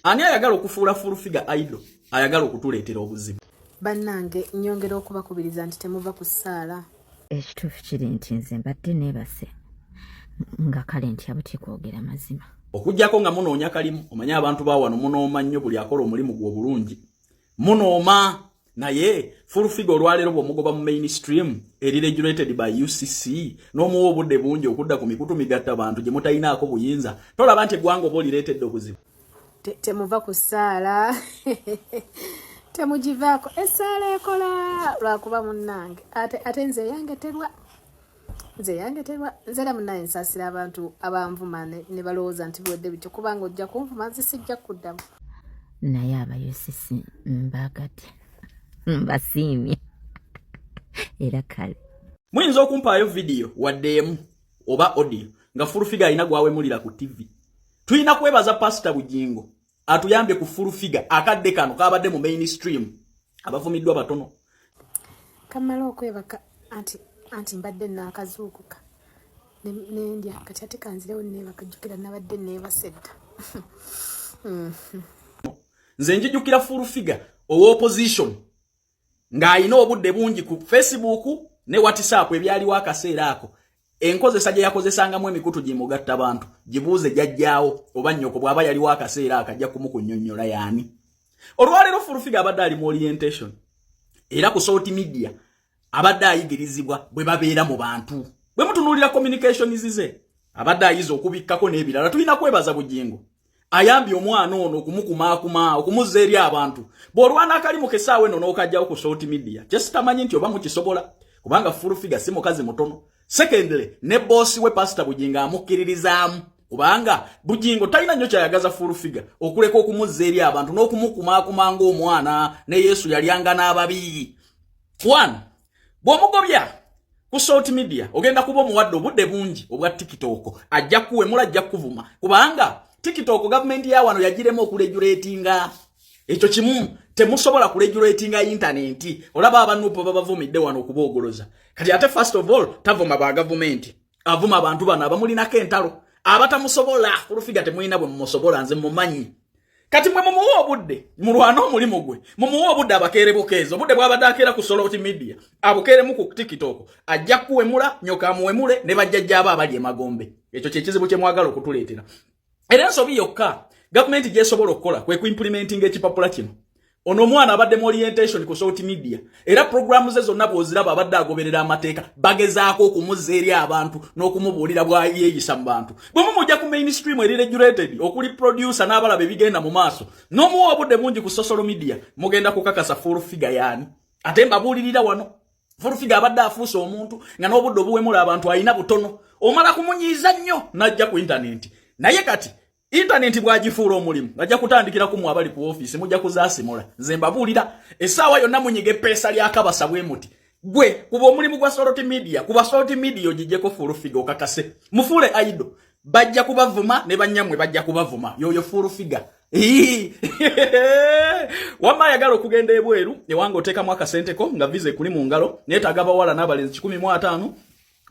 ani ayagala okufuula full figure idol ayagala okutuleetera obuzibu bannange nyongera okubakubiriza nti temuva ku ssaala ekituufu kiri nti nze mbadde neebase nga kale nti abutye kwogera mazima okugyako nga munoonya kalimu omanye abantu bawano munooma nnyo buli akola omulimu gwe obulungi munooma naye full figure olwaleero bwomugoba mu mainstream eri regulated by ucc n'omuwa obudde bungi okudda ku mikutu migatta bantu gye mutalinaako buyinza tolaba nti eggwanga oba olireetedde obuzibu temuva ku ssaala temugivaako essaala ekola lwakuba munnange ate nze eyange terwa nze yandeterwa nze era munaye nsasira abantu abanvuma ne balowooza nti biwedde bityo kubanga ojja kunvuma nze sijja kuddamu naye abayosisi mbagadde mbasiimye era kale muyinza okumpaayo vidiyo wadde emu oba odiyo nga fulufiga alina gwawemulira ku tivi tulina kwebaza pasita bugingo atuyambye ku full figure akadde kano kabadde mu mainstream abavumiddwa batono kamala okwebaka anti anti mbadde nakazuukuka nendya kati ate kanzirewo nebaka jjukira nabadde nebasedda nze njijukira full figure owa opposition ng'alina obudde bungi ku facebook ne whatsapp ebyaliwo akaseera ako enkozesa gye yakozesangamu emikutu gimugatta bantu gibuuze jajjaawo oba nnyoko bw'aba yaliwo akaseera ako ajja kumukunyonnyola yaani olwaleero fulufiga abadde ali mu orientation era ku salt media abadde ayigirizibwa bwe babeera mu bantu bwe mutunuulira communications ze abadde ayiza okubikkako n'ebirala tulina kwebaza bugingo ayambye omwana ono okumukumaakuma okumuzza eri abantu bw'olwana akalimu kesaawa eno n'okajjawo ku salt media kyesitamanyi nti oba mukisobola kubanga fulufiga si mukazi mutono secondly ne boosi we pasita bugingo amukkiririzaamu kubanga bugingo talina nnyo kyayagaza fulufiga okuleka okumuzza eri abantu n'okumukumaakuma ng'omwana ne yesu yalyanga n'ababi one bwomugobya ku salt media ogenda kuba omuwadde obudde bungi obwa tiktok ajja kuwemula ajja kuvuma kubanga tiktok gavumenti ya wano yagiremu okulejuletinga ekyo kimu temusobola kulejuletinga intanenti olaba abanupo babavumidde wano okubaogoloza kati ate first of all tavuma ba gavumenti avuma abantu bano abamulinako entalo abatamusobola kulufiga temulina bwe mumusobola nze mumanyi kati mwe mumuwa obudde mulwane omulimu gwe mumuwa obudde abakeere bukeezi obudde bwabadde akeera ku soloti media abukeeremu ku tikitoko ajja kuwemula nyoka amuwemule ne bajjajjaaba abali emagombe ekyo kyekizibu kyemwagala okutuleetera era ensobi yokka gavumenti gyesobola okukola kwe kuimpulimentinga ekipapula kino ono omwana abadde mu orientation ku salt media era programu ze zonna bwoziraba abadde agoberera amateeka bagezaako okumuzza eri abantu n'okumubuulira bwayeeyisa mu bantu bwe mumujja ku mainstream eri regulated okuli producer n'abalaba ebigenda mu maaso n'omuwa obudde bungi ku social media mugenda kukakasa full figure yaani ate mbabuulirira wano Furufiga abadde afuuse omuntu nga n'obudde obuwemula abantu alina butono omala kumunyiiza nnyo n'ajja ku intanenti naye kati intanenti bw'agifuula omulimu ajja kutandikira ku mwe abali ku ofiisi mujja kuzaasimula nze mbabuulira essaawa yonna munyiga eppeesa lya kabasa bwe muti gwe kuba omulimu gwa soloti midiya kuba soloti midiya ogijjeko furufiga okakase mufuule aido bajja kubavuma ne bannyamwe bajja kubavuma yoyo furufiga wamma ayagala okugenda ebweru ewanga oteekamu akasenteko nga viza ekuli mu ngalo naye tagabawala n'abalenzi kikumi mu ataano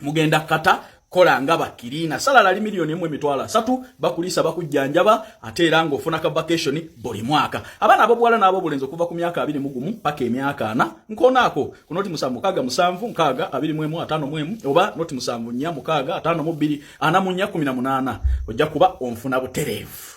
mugenda kata kola nga bakiriina salala ali miliyoni emu emitwalo asatu bakuliisa bakujjanjaba ate era ng'ofuna ka vacation buli mwaka abaana abobuwala n'abobulenzi okuva ku myaka abiri mu gumu paka emyaka ana nkoonaako ku noti musanvu mukaaga musanvu nkaaga abiri mu emu ataano mu emu oba noti musanvu nnya mukaaga ataano mu bbiri ana mu nnya kumi na munaana ojja kuba onfuna butereevu